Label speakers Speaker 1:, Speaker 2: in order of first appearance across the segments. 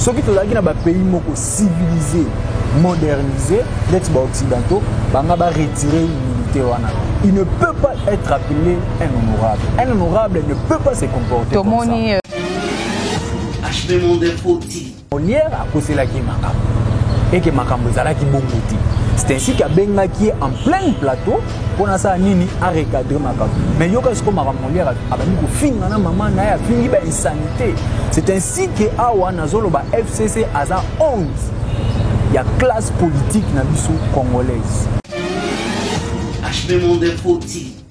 Speaker 1: soki tozalaki na bapays moko civilise modernise neti baoccidentaux banga baretire immunité wana il ne peut pas être appelé un honorable un honorable ne peut pas se comporter tomoni molière euh, akoselaki makambo eke makambo ezalaki bongo te c'est ainsi qu'abengaki ye en pleine plateau mpo nasala nini arecadre makambo mais yoka siko makambo moliere abandi kofinga na mama na ye afingi bainsanité c'est ainsi ke awa nazoloba fcc aza honte ya classe politique na biso congolaise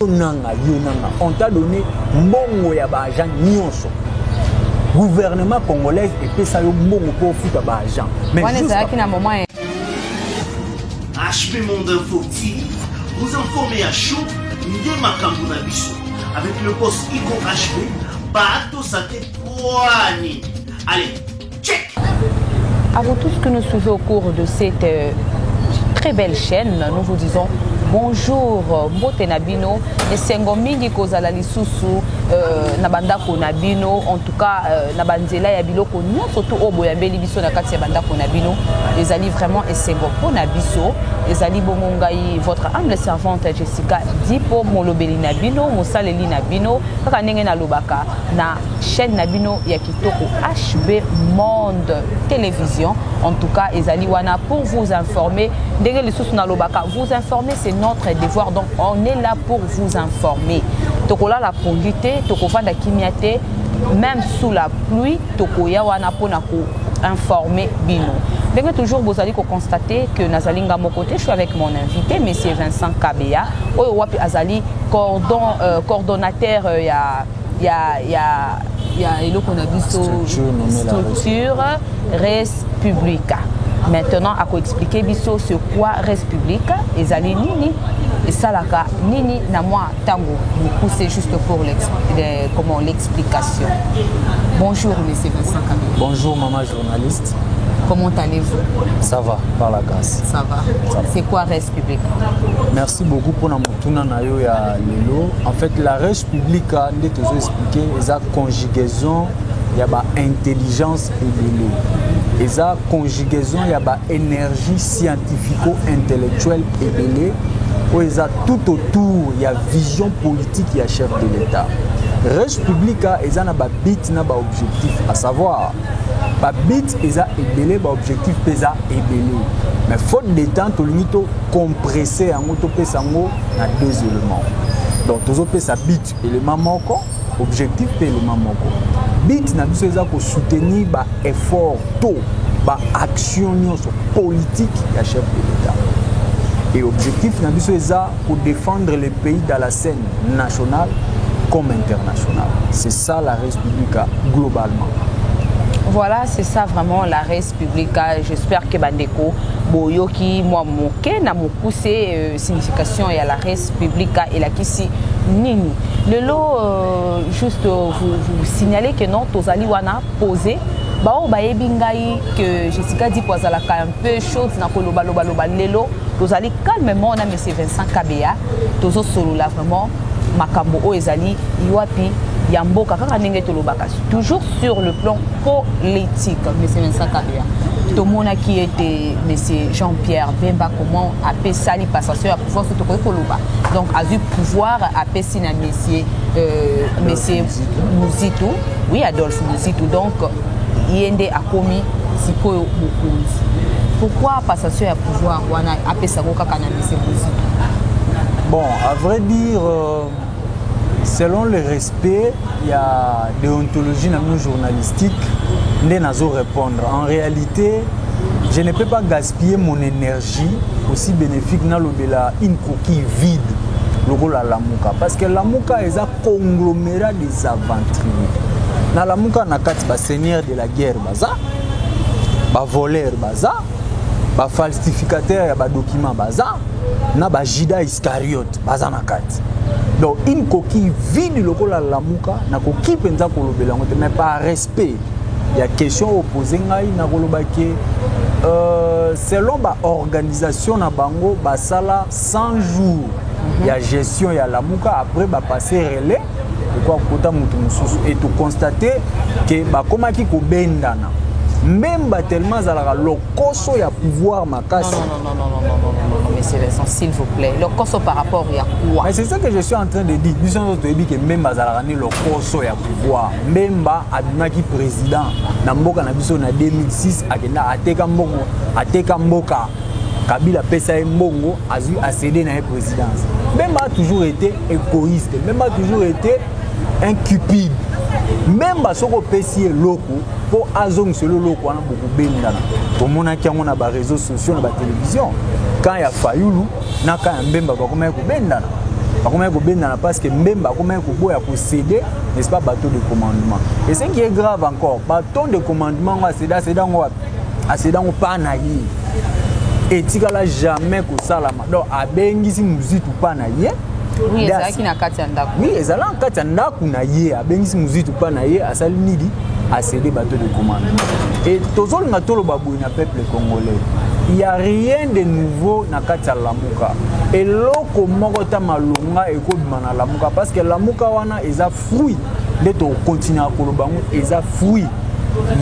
Speaker 2: nanga yo nanga
Speaker 1: on t'a donné mbongo ya baagent nyonso gouvernement congolaise epesa yo mbongo mpo ofuta baagent mais ezalaki na moment
Speaker 2: HP Monde Info TV, vous informez à chaud nde makambo na biso. Avec le boss Iko HP, bato sa te poani. Allez, check! À
Speaker 3: vous tous que nous suivez au cours de cette euh, très belle chaîne, nous vous disons bonjour mbote na bino esengo mingi kozala lisusu euh, na bandako na bino ka euh, na banzela ya biloko nyonso to oyo boyambeli biso na kati ya bandako na bino ezali vraiment esengo mpo na biso ezali bongo ngai votre humble servante jessica dipo molobeli na bino mosaleli na bino kaka ndenge nalobaka na chaîne na bino ya kitoko hb monde télévision en tout cas ezali wana pour vous informer ndenge lisusu nalobaka vous informer c'est notre devoir donc on est là pour vous informer tokolala pongi te tokovanda kimia te même sous la pluie tokoya wana mpo na ko informer bino ndenge toujours bozali koconstate que nazali nga moko te je suis avec mon invité monsieur vincent kabeya oyo wapi azali cordon, euh, coordonnateur euh, ya ya ya ya eloko na biso structure res publica maintenant akoexplike biso ce quoi res publica ezali nini esalaka nini na mwa ntango mokuse juste pour comment l'explication bonjour monsieur vincent kabila bonjour mama journaliste
Speaker 1: comment
Speaker 3: allez-vous ça va par
Speaker 1: la grâce ça va c'est
Speaker 3: quoi res publique. Merci beaucoup
Speaker 1: pour notre motuna na yo ya lelo. En fait la res publica nde tozo expliquer eza conjugaison ya ba intelligence ebele. Eza conjugaison ya ba énergie scientifico-intellectuelle ebele oyo eza tout autour ya vision politique ya chef de l'État. Res publica eza na ba bit na ba objectif à savoir ba bits eza ebele ba objectif mpe eza ebele mais faute de temps tolingi tocompresse yango topesa yango na deux éléments donc tozopesa bit élément moko objectif mpe élément moko bit na biso eza kosoutenir ba effort to ba action nyonso politique ya chef de l'état et objectif na biso eza Ko defendre le pays dans la scène nationale comme internationale. C'est ça la Res Publica globalement. Voilà,
Speaker 3: c'est ça vraiment la Res Publica. J'espère que Bandeko Boyoki, moi, Moke, na mokuse, euh, signification et à la Res Publica et la Kissi Nini. Le lot, euh, juste euh, vous, vous signaler que non, Tozali Wana posé baoyo bayebi ngai que jessica dipo azalaka un peu chaude na kolobaloba loba lelo tozali calmement na monsieur Vincent Kabeya tozo solola vraiment makambo oyo ezali wapi ya mboka kaka ndenge tolobaka toujours sur le plan politique monsieur Vincent Kabeya tomonaki ete monsieur jean pierre bemba comment apesali passation ya pouvoir so tokoki koloba donc azwi pouvoir apesi na monsieur euh, monsieur muzitu oui adolphe muzitu donc ye nde akomi sikoyo mokonzi pourquoi passation ya pouvoir wana apesa ko kaka na mise bozi bon
Speaker 1: à vrai dire euh, selon le respect ya déontologie na bino journalistique nde nazo répondre en réalité je ne peux pas gaspiller mon énergie aussi bénéfique nalobela une coquille vide lokola lamuka parce que lamuka eza conglomérat des aventuriers na lamuka na kati baseigneur de la guerre baza bavoleur baza ba falsificateur ya badocument baza na bajida iscariote baza na kati donc une coquille vide lokola lamuka nakoki mpenza kolobela yango te mais par respect ya question opose ngai nakoloba ke euh, selon baorganisation na bango basala 100 jours mhm. ya gestion ya lamuka après bapasse relais ekoka kokota moto mosusu e tokonstate ke bakomaki kobendana mbemba tellement azalaka lokoso ya pouvoir makasi
Speaker 3: monsieur Vincent, s'il vous plaît, le cosso par rapport à quoi Mais c'est ça que je suis en train
Speaker 1: de dire. Nous avons dit que Mbemba azalaka ni le cosso ya pouvoir. Mbemba abimaki président na mboka na biso na 2006 akenda ateka mbongo, ateka mboka. Kabila pesa ye mbongo, azui accéder na ye présidence. Mbemba a toujours été egoïste même a toujours été un cupide même basoki opesi eloko mpo azongisa eloloko wana bokobengana tomonaki yango na bareseau sociaux na batelevizio kan ya fayulu na kan ya mbemba bakomaki kobendana bakomaki kobendana parce que mbemba akomaki koboya kosede n'est-ce pas bateau de commandement et ce qui est grave encore baton de commandement yango aseda aseda yango wapi aseda yango mpa na ye etikala jamais kosalama donc abengisi muzitu pa na ye oui ezalaki na
Speaker 3: kati ya ndako oui ezalaki na kati ya
Speaker 1: ndako na ye abengisi muzitu pa na ye asali nini asede bato de commande e tozolinga toloba boye na peuple congolais il y a rien de nouveau na kati ya lamuka eloko moko ta malonga ekobima na lamuka parce que lamuka wana eza fruit nde tokokontinua koloba yango eza fruit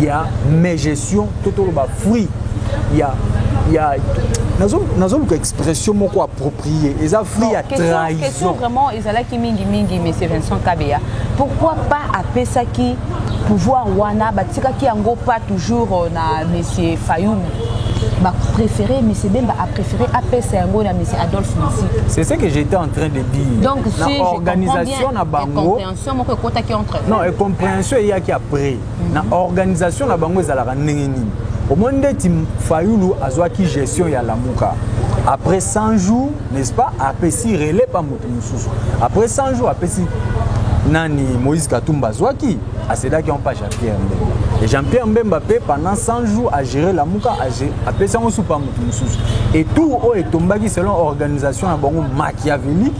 Speaker 1: ya megestion to toloba fruit ya ya nazoluka expression moko approprié eza fruit ya trahison vraiment ezalaki
Speaker 3: mingi mingi monsieur vincent kabeya pourquoi pas apesaki pouvoir wana batikaki yango pas toujours euh, na monsieur fayum bapréféré M. Bemba a préféré APS Yango na M. Adolphe Massy. C'est ce que j'étais en
Speaker 1: train de dire. Donc, si je
Speaker 3: organisation. soit na
Speaker 1: bango comprehension moko ekotaki
Speaker 3: entre non et comprehension
Speaker 1: eyaki après na mhm. organisation na bango ezalaka ndenge nini omoni ndeti fayulu azwaki gestion ya lamuka après 100 jours n'est-ce pas apesi relais pa moto mosusu après 100 jours apesi nani moïse katumba azwaki asedaki yango pa jean-pierre mbemba e jean-pierre mbemba mpe pendant 100 jours agere lamuka apesi yango supa moto mosusu etour oyo etombaki selon organisation na bango machiavélique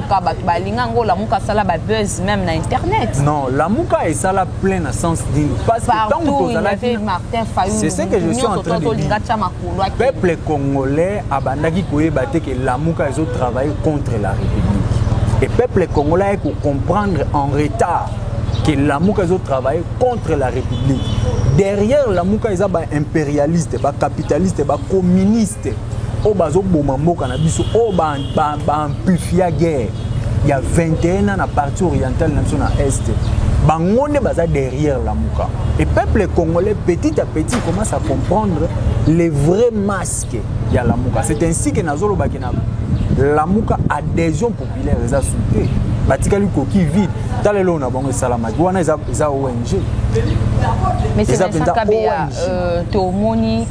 Speaker 3: lamuka bato balinga yango lamuka asala ba buzz même na internet non lamuka
Speaker 1: esala plein na sens nini parce que ntango tozalaki
Speaker 3: martin fayulu c'est ce que je suis en train
Speaker 1: de dire peuple congolais abandaki koyeba te ke lamuka ezo travailler contre la république et peuple congolais aye kocomprendre en retard que lamuka ezo travailler contre la république derrière lamuka eza ba impérialiste ba capitaliste ba communiste te oyo bazoboma mboka na biso oyo baampifia guerre ya 21 ans na partie orientale na biso na est bango nde baza derrière lamuka et peuple congolais petit à petit commence à comprendre les vrais masques ya lamuka c'est ainsi que nazolobaki na lamuka adhésion populaire eza su te batikali koki vide tala eloo na bango esalamaki wana eza ong eza
Speaker 3: mpenza ong euh, tomoni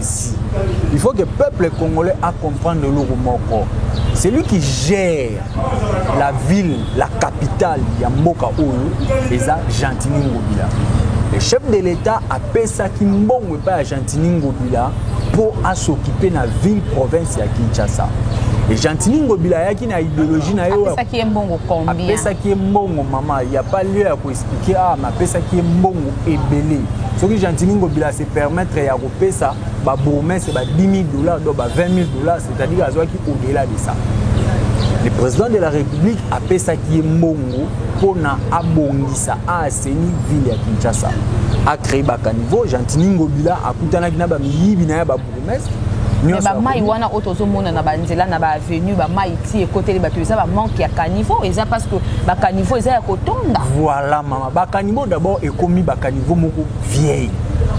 Speaker 1: ici. Il faut que peuple congolais a comprendre eloko moko. Celui qui gère la ville, la capitale ya mboka oyo eza Gentini Ngobila. Le chef de l'État apesaki mbongo epai ya Gentini Ngobila mpo asokipe na ville province ya Kinshasa. Et Gentini Ngobila ayaki na idéologie na ye oyo apesaki ye mbongo combien?
Speaker 3: Apesaki ye mbongo
Speaker 1: mama, il y a pas lieu ya ko expliquer ah mais apesaki ye mbongo ebele. Soki Gentini Ngobila se permettre ya pesa ba bourgmestre ba 10 000 dollars donc ba 20 000 dollars c'est-à-dire azwaki au-delà de ça le président de la république apesaki ye mbongo mpo na abongisa aaseni ville ya kinshasa acree bacaniveau gentini ngobila akutanaki na bamiyibi na ye babourgmestre bamai
Speaker 3: wana oyo tozomona na banzela na baavenue bamai ti ekoteli bato eza bamanke ya caniveau eza parce que bacaniveau eza ya kotonda voilà mama Ba
Speaker 1: caniveaux d'abord ekomi ba caniveaux moko vieille.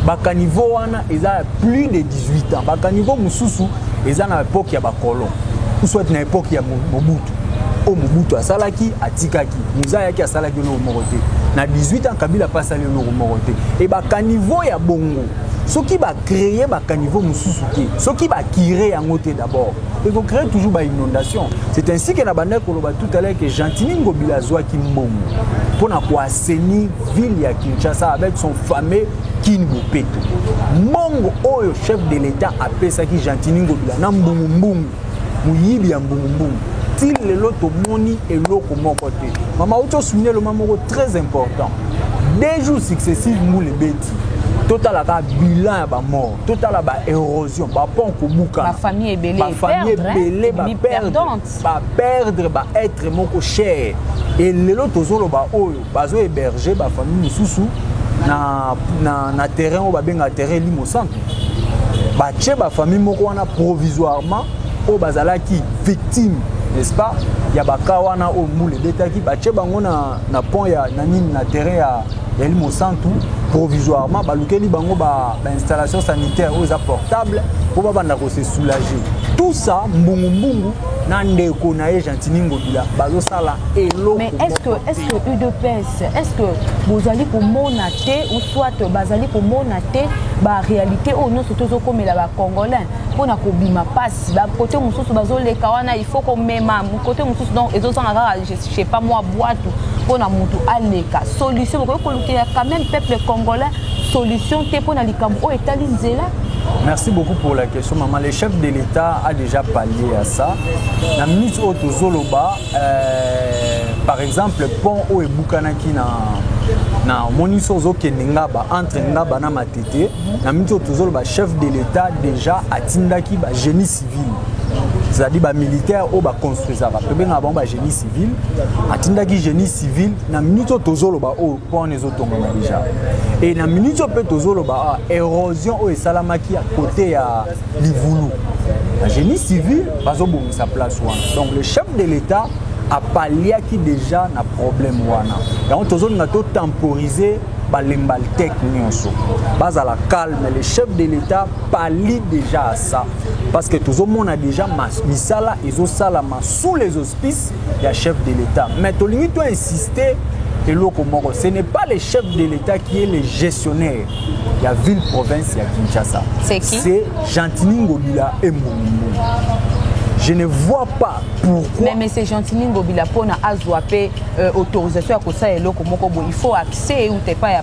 Speaker 1: Ba caniveaux wana eza plus de 18 ans. Ba caniveaux mususu eza na époque ya ba colons. Ou soit na époque ya Mobutu. O Mobutu asalaki atikaki. Muza yaki asalaki eloko moko te. Na 18 ans Kabila pa asali eloko moko te. Et ba caniveaux ya bongo soki ba créer ba caniveaux mususu te. Soki ba kire yango te d'abord. eko cree toujours ba inondation c'est ainsi que na banda koloba tout à l'heure que gentini ngobila azwaki mbongo mpo na koaseni ville ya kinshasa avec son fameux kin bopeto mbongo oyo chef de l'état apesaki gentini ngobila na mbungumbungu moyibi ya mbungumbungu ti lelo tomoni eloko moko te mama outi osuni eloma moko très important deux jours successive mbula ebeti totala kaka bilan ya bamort totala ba érosion ba pont kobuka ba famille ebele ba
Speaker 3: famille ebele
Speaker 1: ba perdre ba perdre ba être moko cher et lelo tozoloba oyo bazo héberger ba famille mosusu na, na, na terrain oyo babenga terrain elimo santu batie bafamille moko wana provisoirement oyo bazalaki victime n'est-ce pas ya baka wana oyo mbula ebetaki batie bango na, na pont ya na nini na terrain ya Eli Mosantu, provisoirement, balukeli bango ba, ba installation sanitaire oyo eza portable mpo babanda ko se soulager. Tout ça, mbungu mbungu na ndeko na ye Gentini Ngobila bazosala eloko. Mais est-ce que est-ce
Speaker 3: que UDPS est-ce que bozali komona te ou soit bazali komona te ba réalité oyo nyonso tozokomela ba Congolais mpo na kobima mpasi ba kote mosusu bazoleka wana il faut komema kote mosusu donc ezozanga kaka chez pas moi bwatu mpo na motu aleka solution bokoki kolukela quand même peuple congolais solution te mpo na likambo oyo etali nzela Merci beaucoup
Speaker 1: pour la question, maman. Le chef de l'État a déjà pallié à ça. La minute haute aux Zoloba, euh, par exemple, le pont au Eboukanaki na na omoni so ozokende ngaba entre ngaba na matete na miniti oyo tozoloba chef de l'état déjà atindaki bagénie civile c'est-à-dire bamilitaire oyo baconstruisaka tobengaka bango bagénie civile atindaki génie civile na minute oyo tozoloba oyo oh, pone ezotongama déjà e na minute oyo mpe tozoloba ah, érosion oyo esalamaki ya kote ya livulu bagénie civile bazobongisa place wana donc le chef de l'état apaliaki déjà na problème wana yango tozolinga totemporiser balembalteke nyonso bazala calme le chef de l'état pali déjà ça parce que tozomona déjà misala ezosalama sous les auspices ya chef de l'état mais tolingi to insister eloko moko ce n'est pas le chef de l'état qui est le gestionnaire ya ville province ya kinshasa c'est
Speaker 3: gentini
Speaker 1: ngobila embongimbongi je ne vois pas pourquoi mais monsieur gentini
Speaker 3: ngobila mpona azwa mpe euh, autorisation ya kosala eloko moko boye il faut accès euta epai ya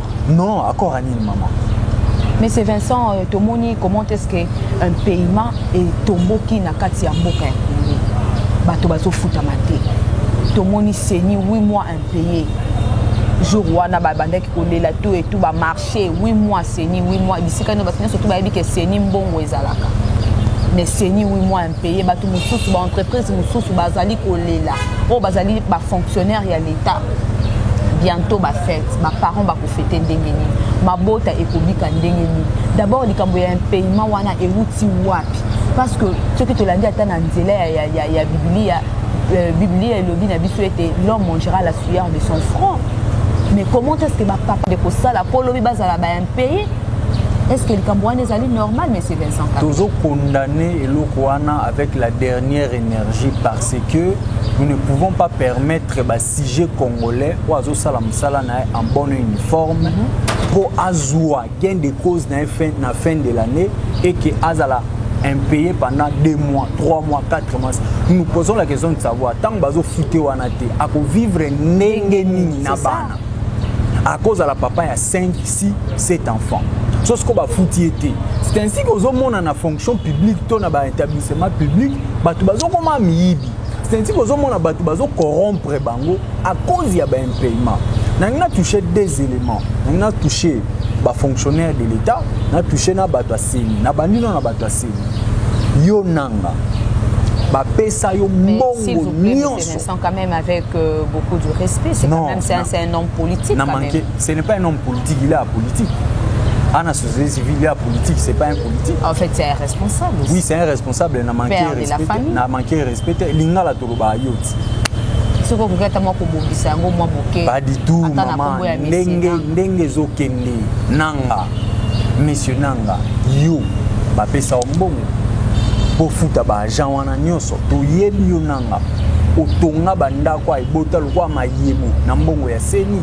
Speaker 3: Non, accord à
Speaker 1: nini maman mais c'est
Speaker 3: Vincent euh, tomoni comment est-ce que un paiement etomboki na kati ya mboka ya Congo bato bazofutama te tomoni seni 8 mois impayé jour wana babandaki kolela to etu bamarché 8 mois seni 8 mois bisika nio bato nyonso to bayebi ke seni mbongo ezalaka mais seni 8 mois paye bato mosusu baentreprise mosusu bazali kolela oyo bazali bafonctionnaire ya leta bientôt bafete baparent bakofete ndenge nini mabota ekobika ndenge nini d'abord likambo ya impayement wana euti wapi parce que soki tolandi ata na nzela ya, ya, ya, ya biblia euh, biblia elobi na biso ete l'homme mangera la sueur de son front mais comment est ce que bapapa de kosala mpo lobi bazala baimpayé est ce que likambo wana ezali normal monsieur vincent tozo condamne
Speaker 1: eloko wana avec la dernière énergie parce que nous ne pouvons pas permettre ba sujet congolais oyo azosala mosala na ye en bonne uniforme mpo mhm. azwa gain de cause na ye fin, na fin de l'année et que azala impayé pendant 2 mois 3 mois 4 mois nous posons la question de savoir ntango bazofute wana te akovivre ndenge nini na bana akozala papa ya 5 6 7 enfants so siko bafuti ye te c'est ainsi que ozomona na fonction publique to na baétablissement public bato bazokoma miyibi c'est ainsi que ozomona bato bazokorompre bango à cause ya baimpayement nangi na touche deux éléments nangi na touche bafonctionnaire de l'état na touche na bato ya seni na bandi no na bato ya seni yo nanga
Speaker 3: bapesa yo mbongo nyonso Vincent quand même avec euh, beaucoup de respect, c'est quand même c'est
Speaker 1: un,
Speaker 3: un
Speaker 1: homme politique.
Speaker 3: Quand
Speaker 1: manqué,
Speaker 3: même. Ce
Speaker 1: n'est pas
Speaker 3: un homme politique,
Speaker 1: il est
Speaker 3: apolitique. Anna
Speaker 1: société civile, il est apolitique, c'est pas un politique. En fait, c'est un
Speaker 3: responsable. Aussi. Oui, c'est un responsable,
Speaker 1: il a manqué Père respect. Il a manqué respect. Lingala Toloba Ayoti. soki okoki ata mwa kobongisa yango mwa moke pas du tout mama ndenge ndenge ezokende nanga monsieur nanga yo bapesa yo mbongo bofuta baagent wana nyonso toyebi yo nanga Ah, otonga bandako ebota lokola mayebo na mbongo ya seni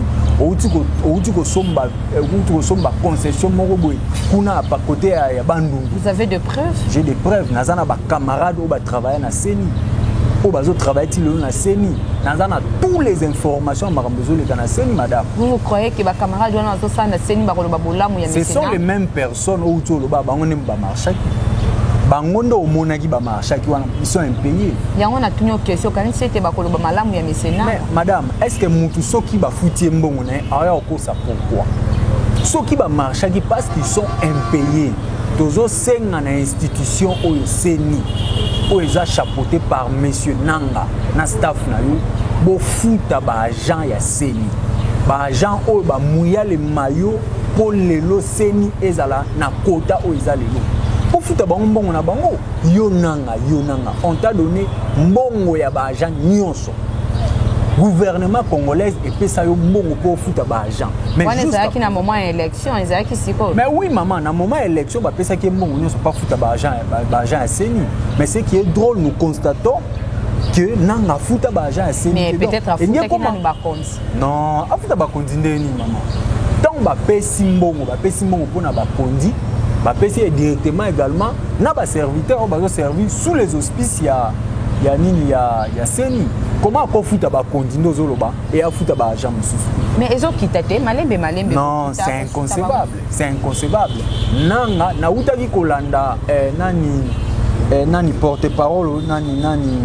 Speaker 1: outi kosomba eh, concession moko boye kuna kote ya bandundu j'ai
Speaker 3: des preuves naza na
Speaker 1: bacamarade oyo batravaille na seni oyo bazotravaille ti lelo na seni naza na tous les informations ya makambo ezoleka na seni madame vous croyez que
Speaker 3: bacamarade wana bazosala na seni bakoloba bolamu ya ce sont les mêmes
Speaker 1: personnes son owuti oloba bango nde ba marchaki bango nde omonaki ba marchaki wana ils sont impayés yango natuni yo question
Speaker 3: okanisi ete bakoloba malamu ya mesena madame est
Speaker 1: ce que mutu soki bafuti ye mbongo na ye aya okosa pourquoi soki ba marchaki parce qu'ils sont impayés tozosenga na institution oyo seni oyo eza chapeauté par monsieur nanga na staff na yo bofuta baagent ya seni baagent oyo bamuya le mayo mpo lelo ceni ezala na kota oyo eza lelo ofuta bango mbongo na bango yo nanga yo nanga on t'a donné mbongo ya baagent nyonso gouvernement congolaise epesa yo mbongo mpo ofuta baagent wana ezalaki na moment ya
Speaker 3: élection ezalaki sikoyo mais oui mama na moment
Speaker 1: ya élection bapesaki ye mbongo nyonso mpo afuta baagent ya ceni mais ce qui est drôle nous constatons que nanga afuta baagent ya ceni
Speaker 3: non afuta
Speaker 1: bakonzi ndenge nini mama ntango bapesi mbongo bapesi mbongo mpo na bakonzi bapesi ye directement également na baserviteur oyo bazoservir sous les auspices ya ya nini ya, ya seni koma akofuta bakonzi nde ozoloba e afuta baagent mosusu mais ezokita
Speaker 3: te malembe malembe non c'est
Speaker 1: inconcevable c'est inconcevable nanga nautaki kolanda eh, nani eh, nani porte parole nani nani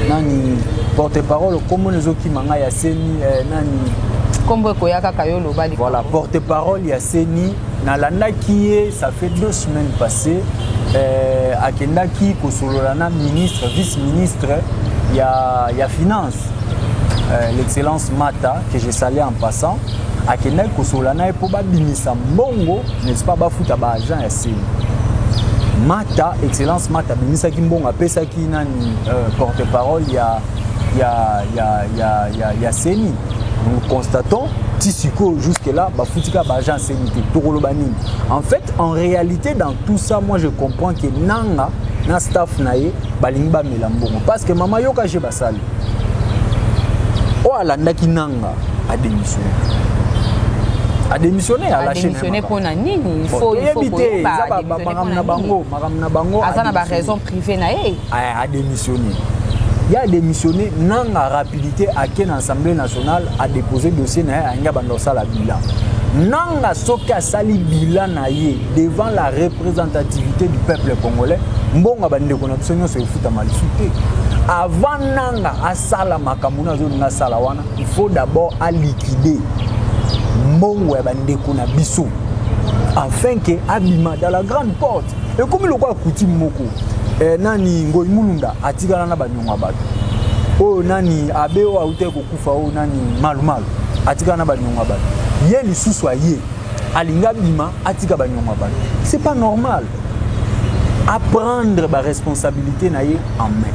Speaker 1: nani porte parole kombo ezokima ngai ya seni eh, nani kombo ekoya
Speaker 3: kaka yo oloba likambo voilà porte parole
Speaker 1: ya seni nalandaki ye ça fait deux semaines passées eh, akendaki kosolola na ministre vice ministre ya, ya finance euh, l'excellence Mata que je salais en passant akendaki kosola na ye mpo babimisa mbongo n'est-ce pas bafuta ba agent ya seni Mata excellence Mata abimisaki mbongo apesaki nani euh, porte-parole ya ya ya ya ya, ya seni nous constatons ti sikoyo jusque là bafuti kaka baagent aseni te tokoloba nini en fait en réalité dans tout ça moi je comprends que nanga na staff na ye balingi bamela mbongo parceke mama yoka je basali oyo alandaki nanga ademissione ademissione alashene mpo na nini
Speaker 3: oyebi te eza
Speaker 1: makambo na bango makambo na
Speaker 3: bango aza na baraison privé na ye ademissione
Speaker 1: ye ademissione nanga rapidité ake na assemblée nationale adepose dossier na ye ayangi abanda kosala bilan nanga soki asali bilan na ye devant la representativité du peuple congolais mbongo ya bandeko na biso nyonso efutama lisu te avant nanga asala makambo na azolinga asala wana il faut d'abord aliquide mbongo ya bandeko na biso afin ke abima dans la grande porte ekomi lokola coutume moko eh, nani ngoi mulunda atikala na banyongo ya bato oyo nani abe oyo autaki kokufa oyo nani malumalu atikala na banyongo ya bato ye lisusu aye alingi abima atika banyongo ya bato c'est pas normal aprendre baresponsabilité na ye en main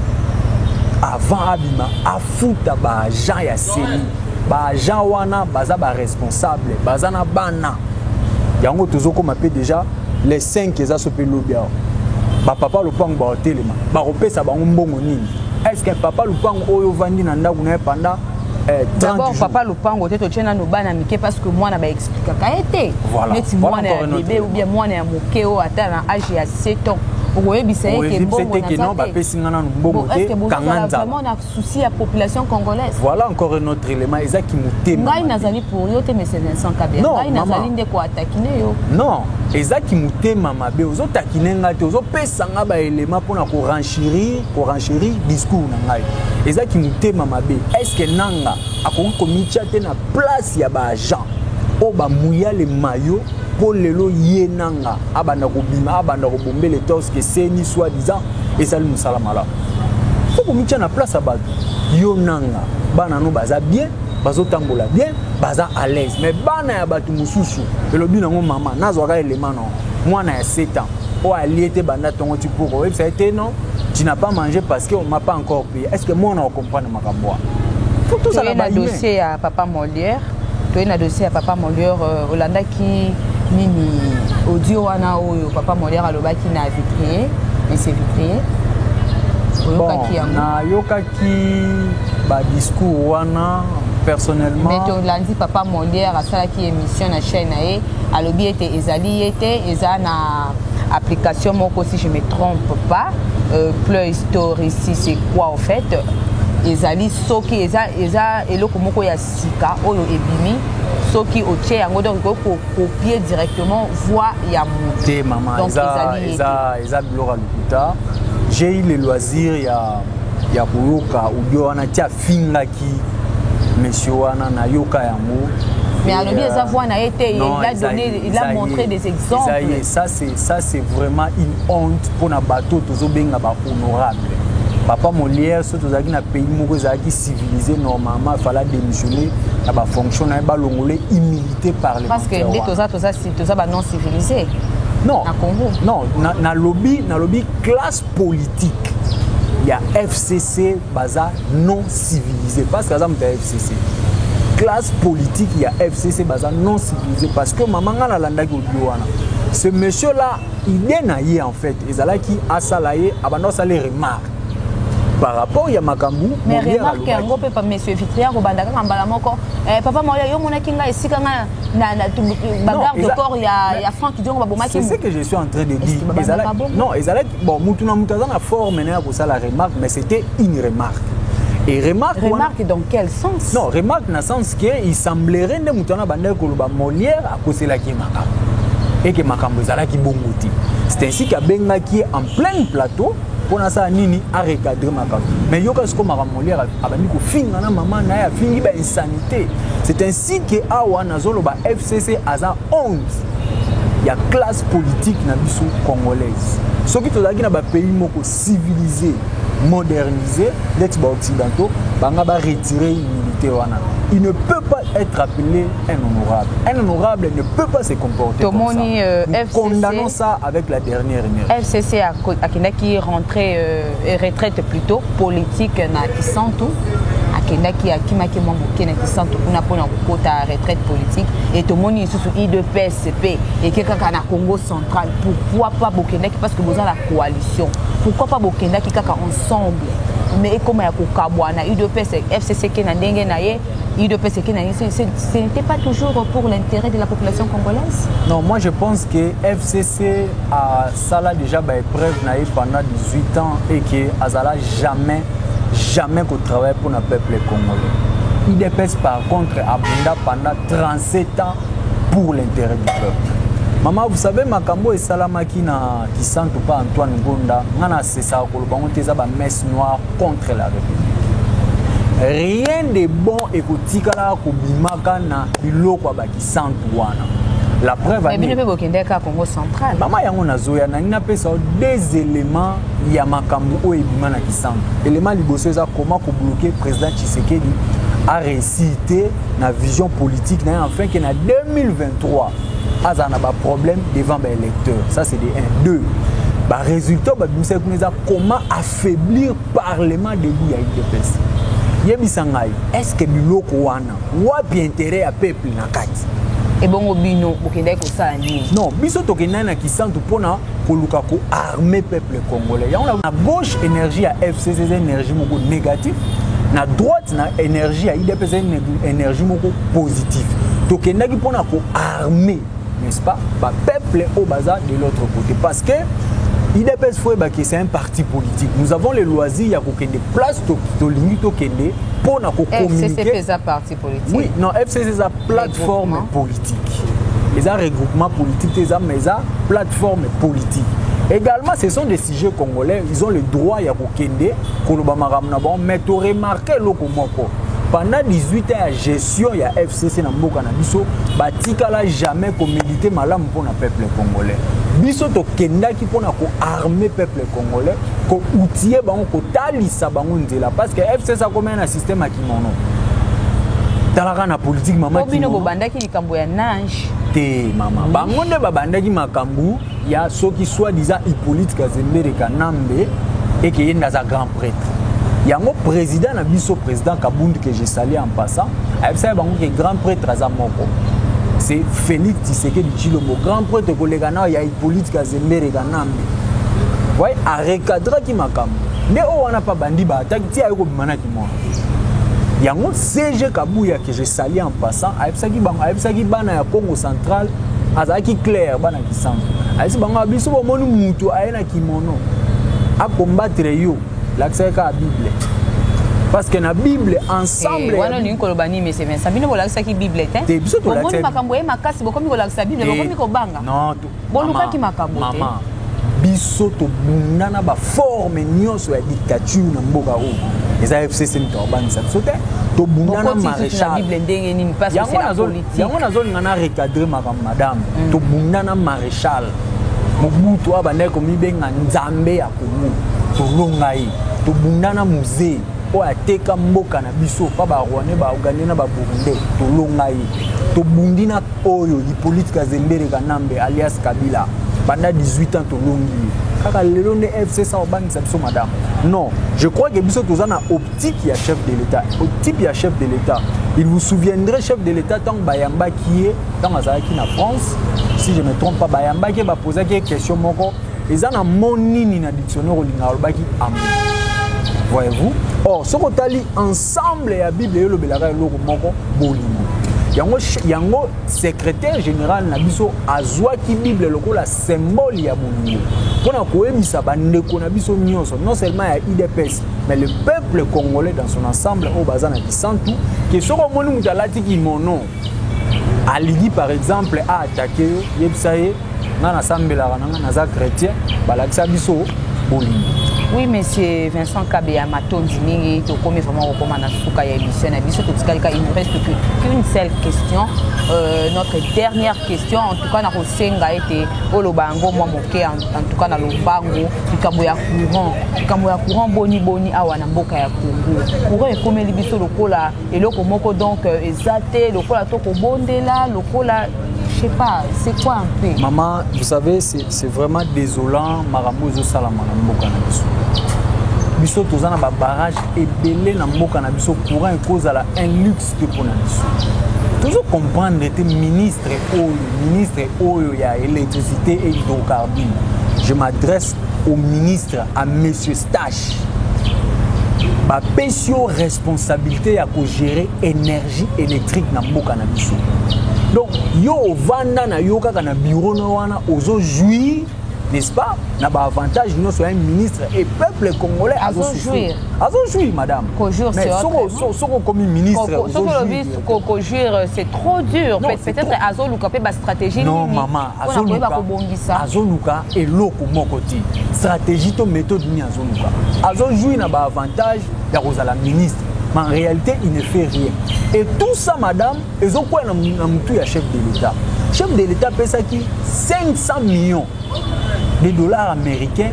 Speaker 1: avant abima afuta baagent ya seni baagent wana baza baresponsable baza na bana yango tozokoma mpe déjà les 5 eza so mpe lobi awa bapapa lopango baotelema bakopesa bango mbongo nini est ce que papa lupangu oyo ovandi na ndako na ye panda Eh, d'abord papa lopango
Speaker 3: te totye nano bana mike parce que mwana baexplikaka ye te neti mwana ya bebe ou bien mwana ya moke oyo ata na age ya 7 ans okoyebisa ye ke mbongo naza te bapesi nga nanu
Speaker 1: mbongo te kanga nzala vraiment na
Speaker 3: souci ya population congolaise voilà encore un autre
Speaker 1: élément eza kimotema ngai nazali pour yo
Speaker 3: te monsieur Vincent Kabila ngai nazali nde ko attaquer yo non eza
Speaker 1: kimotema mabe ozotakine nga te ozopesa nga ba élément mpona ko renchirir Orangerie discours na ngai eza ki mutema mabe est ce que nanga akoki komitia te na place ya ba agent oyo bamuya le mayo mpo lelo ye nanga abanda kobima abanda kobombe le torse ke seni soit disant ezali mosala malamu fo komitia na place ya bato yo nanga bana no baza bien bazotambola bien baza à l'aise mais bana ya bato mosusu elobi nango mama nazwaka elema na mwana ya 7 ans oyo alie te banda ntongo ti poko oyebisa ye te non tu n'as pas mangé parce qu'on m'a pas encore payé est ce que moi on comprendre makambo wana faut tous à la base dossier ya papa
Speaker 3: Molière toye na dossier ya papa Molière euh, olandaki nini audio wana oyo papa Molière alobaki na vitrier monsieur vitrier
Speaker 1: oyokaki yango nayokaki badiscours wana personnellement mais tolandi papa
Speaker 3: Molière asalaki émission na chaîne na ye alobi ete ezali ye te eza na application moko si je me trompe pas euh, play store ici c'est quoi au fait ezali soki eza, eza eloko moko ya sika oyo ebimi soki otie yango donc ekoki kokopie directement voix ya mote mama
Speaker 1: eza biloko ya lokuta j'ai eu le loisir ya, ya koyoka audio wana ti afingaki monsieur wana nayoka yango mais alobi euh,
Speaker 3: eza voix na ye te il a donné Il a montré des exemples. Ça c'est ça
Speaker 1: c'est vraiment une honte pour na bateau tozo benga ba honorable. Papa Molière surtout zaki na pays moko zaki civilisé normalement fallait démissionner na ba fonction na ba longolé humilité par les Parce que nde toza toza
Speaker 3: si toza ba non civilisé. Non. Na Congo.
Speaker 1: Non, na, na lobby na lobby classe politique. Il y a FCC baza non civilisé parce que ça me FCC. Classe politique ya FCC baza non civilisé parce que mama nga nalandaki audio wana. Ce monsieur là, idée na ye en fait ezalaki asala ye abanda asala remarque par rapport ya makambo mais remarque yango
Speaker 3: mpe monsieur vitrier akobanda kaka mbala moko eh, papa maoya yo omonaki ngai esika ngai bagarde corps ya frank diongo babomaki ce que je suis en train
Speaker 1: de dire non ezalaki bon mutu na mutu aza na forme na ya kosala remarque mais c'était une remarque et remarque remarque wana, dans quel sens
Speaker 3: non remarque na sens
Speaker 1: que il semblerait nde mutu wana bandaki koloba molière akoselaki ye makambo eke makambo ezalaki bongo te c'est ainsi kabengaki ye en plein plateau mpo nasala nini arecadre makambo mais yoka sikoyo makambo molière abandi kofinga na mama na ye afingi bainsanité c'est ainsi que awa nazoloba fcc aza 11 ya classe politique na biso congolaise soki tozalaki na bapays moko civilise modernise ndeti baoccidentaux banga baretire immunité wana il ne peut pas être appelé un honorable un honorable ne peut pas se comporter tomoni euh, condamnons ça avec la dernière énergie fcc akendaki
Speaker 3: rentrer euh... euh, retraite plutôt politique na kisantu akendaki akimaki mwa moke na kisantu kuna mpona kokota retraite politique e tomoni lisusu idps mpe eke kaka na congo central pourquoi pas bokendaki parce que boza na coalition pourquoi pas bokendaki kaka ensemble mais ekoma ya kokabwana udps fcc eke na ndenge na ye udps eke na ye ce n'était pas toujours pour l'intérêt de la population congolaise non moi je pense
Speaker 1: que fcc a asala dejà ba épreuve na ye pendant 18 ans et que azala jamais jamais ko travailler pour na peuple congolais idps par contre abunda pendant 37 ans pour l'intérêt du peuple mama vous savez makambo oyo esalamaki na kisantu mpa antoine gonda ngai nasesaka koloba yango te eza bamesse noire contre la république rien de bon ekotikalaka kobimaka na biloko ya baki centre wana la preuve mais bino mpe bokendeki kaka
Speaker 3: congo central mama yango nazoya
Speaker 1: nangi napesa yo deux éléments ya makambo oyo ebima na kisango élément liboso eza koma kobloke président tshisekedi areussi te na vision politique na ye enfin ke na 2023 azala na baproblème devant baélecteur ça c'est de 1 2 barésultat babimisaki kuna eza comment affaiblir parlement debout ya udps yebisa ngai est ce que biloko wana wapi interet ya peuple na kati ebongo
Speaker 3: bino bokendaki kosala nini non biso tokendaki
Speaker 1: na kisantu mpona koluka koarme peuple congolais yango na gauche énergie ya fcc eza énergie moko négatif na droite na énergie ya idps eza énergie moko positif tokendaki mpona koarme n'est-ce pas ba peuple au bazar de l'autre côté parce que idps faut que c'est un parti politique nous avons le loisir ya kokende place tolingi tokende mpo na kocommuniquer parti politique
Speaker 3: oui non fcc eza
Speaker 1: plateforme politique eza regroupement politique te eza mais eza plateforme politique également ce sont des sujets congolais ils ont le droit ya kokende koloba makambo na bango mais toremarke eloko moko pendant 18 ans ya gestion ya fcc sese na mboka na biso batikala jamais komedite malamu mpo na peuple congolais biso tokendaki mpo na koarme peuple congolais koutie bango kotalisa bango nzela parce que fcs akomai na systeme ya kimono talaka na politike mama bino bobandaki likambo
Speaker 3: ya nage te mama
Speaker 1: bango nde babandaki makambo ya soki soit disant Hippolyte Kazembere Kanambe et que yenda za grand prêtre yango président na biso président Kabund que je salue en passant ayebisaki bango que grand prêtre aza moko c'est Félix Tshisekedi Tshilombo grand prêtre koleka na ya Hippolyte Kazembere Kanambe voyez a recadraki makambo nde oyo wana pa bandi ba ataki ti ayo kobima na kimwa yango CG Kabuya que je salue en passant ayebisaki bango ayebisaki bana ya Congo central azalaki claire bana kisango ayesi bango ah, biso bomoni mutu aye na kimono akombatre yo lakisaki kaka bible parce que na bible ensemble eh, wana olingi koloba nini
Speaker 3: monsieur Vincent bino bolakisaki bible te te biso tolakisaki makambo ye makasi bokomi kolakisa bible bokomi kobanga non bolukaki
Speaker 1: makambo
Speaker 3: te biso
Speaker 1: tobunda na baforme nyonso ya dictature na mboka oyo eza fcc moto akobangisa biso te tobunda na maréchalyango
Speaker 3: nazolinga na
Speaker 1: recadre makambo madame mm. tobunda na maréchal mobutu abandaki komibenga nzambe ya komu tolonga ye tobunda na musee oyo ateka mboka na biso pa barwandais baougandais na baburundais tolonga ye tobundi na oyo hipolite kazembere kanambe alias kabila banda 18 ans tolongi ye kaka lelo nde fcc obangisa biso madame non je crois que biso toza na optique ya chef de l'état optique ya chef de l'état il vous souviendrait chef de l'état ntango bayambaki ye ntango azalaki na france si je me trompe pas bayambaki ye bapozaki ye question moko eza na mo nini na dictionnaire olingaka olobaki amour voyez-vous or soki otali ensemble ya bible elobelaka eloko moko bolingo yango, yango secrétaire général na biso azwaki bible lokola symbole ya bolingo mpo na koyebisa bandeko na biso nyonso non seulement ya idps mais le peuple congolais dans son ensemble oyo baza na kisantu ke soki omoni moto alati kimono alingi par exemple aatake yo yebisa ye nga nasambelaka nanga naza chrétien balakisa biso bolingo oui monsieur
Speaker 3: vincent kabeya matondi mingi tokomi vraiment kokoma na suka ya émission na biso totikalika il nous reste qu'une seule question euh, notre dernière question en tout cas nakosenga ete oloba yango mwa moke en tout cas na lombango likambo ya courant likambo ya courant boni boni awa na mboka ya congo courant ekomeli biso lokola eloko moko donc euh, eza te lokola to kobondela lokola je sais pas c'est quoi un peu maman vous savez
Speaker 1: c'est vraiment désolant makambo ezosalama na mboka na biso biso toza na babarrage ebele na mboka na biso courant ekozala un luxe te mpo na biso tozo comprendre te ministre oyo ministre oyo ya électricité et hydrocarbure je m'adresse au ministre à monsieur stal bapesi yo responsabilité ya kogere énergie électrique na mboka na biso donc yo ovanda na yo kaka na bureau no wana ozojouir n'est-ce pas na baavantage nyonso ya ministre et peuple congolais azojouir
Speaker 3: azojouir
Speaker 1: madame mais
Speaker 3: soki okomi
Speaker 1: ministre soki
Speaker 3: olobi kojouir euh, c'est trop dur peut-être azoluka mpe bastratégie nini mpo na
Speaker 1: koyeba kobongisa azoluka eloko moko te stratégie to méthode nini azoluka azojui na baavantage ya kozala ministre mais en réalité il ne fait rien et tout ça madame ezokwea na motu ya chef de l'état chef de l'état apesaki 500 millions de dollars américains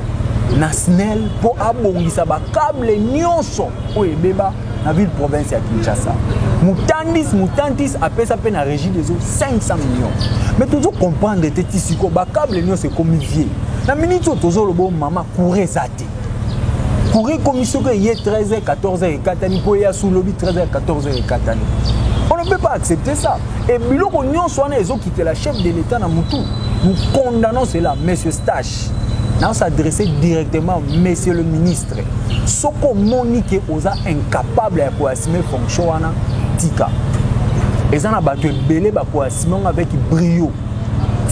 Speaker 1: na snel mpo abongisa bakable nyonso oyo ebeba na ville province ya kinshasa mutandis mutantis apesa mpe na régie des eaux 500 millions mais tozo comprendre te ti siko bacable nyonso ekomi vie na miniti oyo tozoloba o mama coure eza te coure ekomi soki eye 13 h 14 h ekatani mpo eya su lobi 13 h 14 h ekatani on ne peut pas accepter ça e biloko nyonso wana ezokitela chef de l'état na mutu nous condamnons cela monsieur stache naosadresse directement monsieur le ministre soki omoni ke oza incapable ya koassume fonction wana tika eza na bato ebele bakoassume yango avec brio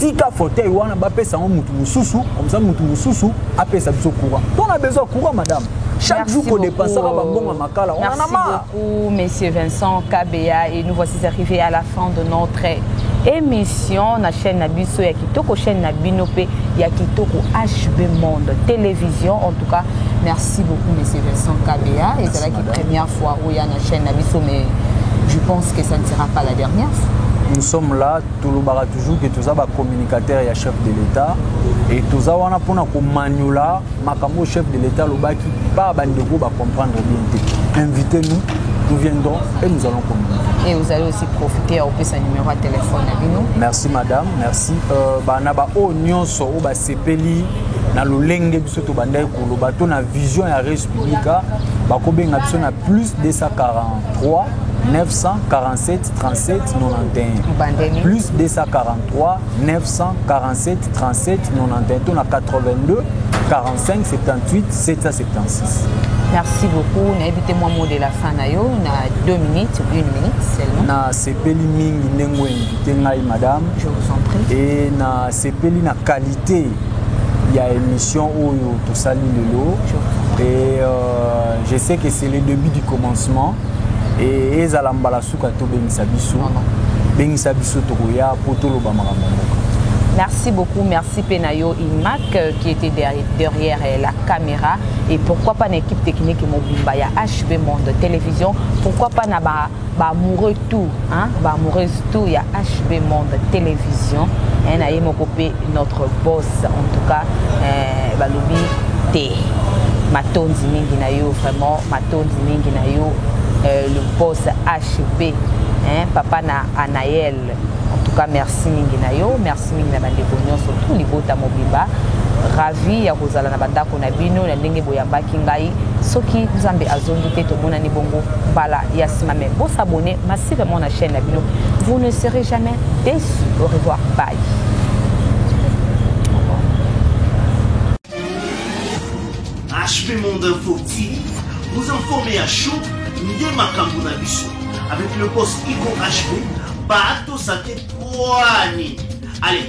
Speaker 1: tika fauteuil wana bapesa yango motu mosusu komsa motu mosusu apesa biso courant mpo na besoin courant madame chaque jour kodepasaka bambongo ya makala onanama Coucou Monsieur
Speaker 3: Vincent Kabeya et nous voici arrivés à la fin de notre émission na chaîne na biso ya kitoko chaîne na bino pe ya kitoko HB Monde télévision en tout cas merci beaucoup Monsieur Vincent Kabeya et c'est la première fois où il y a na chaîne na biso mais je pense que ça ne sera pas la dernière fois nous sommes là
Speaker 1: tolobaka toujours que toza bacommunicateur ya chef de l'état et toza wana mpona komaniola makambo oyo chef de l'etat alobaki baa bandeko bacomprendre bien te invité nous nous viendrons et nous allons communiquer. Et vous allez aussi
Speaker 3: profiter à opérer sa numéro de téléphone à Bino. Merci madame,
Speaker 1: merci. Euh, bah, na ba o nyonso o ba sepeli na lolenge biso to bandai koloba to na vision ya res publica bakobenga biso na plus 243 947 37 91 plus 243 947 37 91 to na 82 45 78 776. Merci
Speaker 3: beaucoup. Nayebi te mwa mot de la fin na yo na 2 minutes, 1 minute seulement. Na sepeli
Speaker 1: mingi ndenge invité ngai madame. Je vous en prie. Et
Speaker 3: na sepeli
Speaker 1: na qualité ya émission oyo tosali lelo. Je vous en prie. Et euh, je sais que c'est le début du commencement. e, ezala mbala suka to bengisa biso bengisa biso tokoya po toloba makambo ya mboka Merci beaucoup,
Speaker 3: merci Penayo Imac euh, qui était derrière euh, la caméra et pourquoi pas l'équipe technique Mobimba, il y a HB Monde Télévision, pourquoi pas na ba, ba amoureux tout, hein, ba amoureuse tout, il y a HB Monde Télévision, hein, na yemokopé notre boss en tout cas, euh, balobi te. Matonzi mingi na yo vraiment Tondi mingi na yo euh, le boss HB hein, papa na Anaël en tout cas merci mingi na yo merci mingi na bandeko nyonso tout libota mobimba ravi ya kozala na bandako na bino na ndenge boyambaki ngai soki nzambe azongi te tomonani bongo mbala ya nsima me bosabone massivement na chaîne na bino vous ne serez jamais déçu au revoir bye
Speaker 2: HP Monde Info TV, vous informer à chaud nde makambo na biso. Avec le boss Ico HP, bato sate kwani. Allez,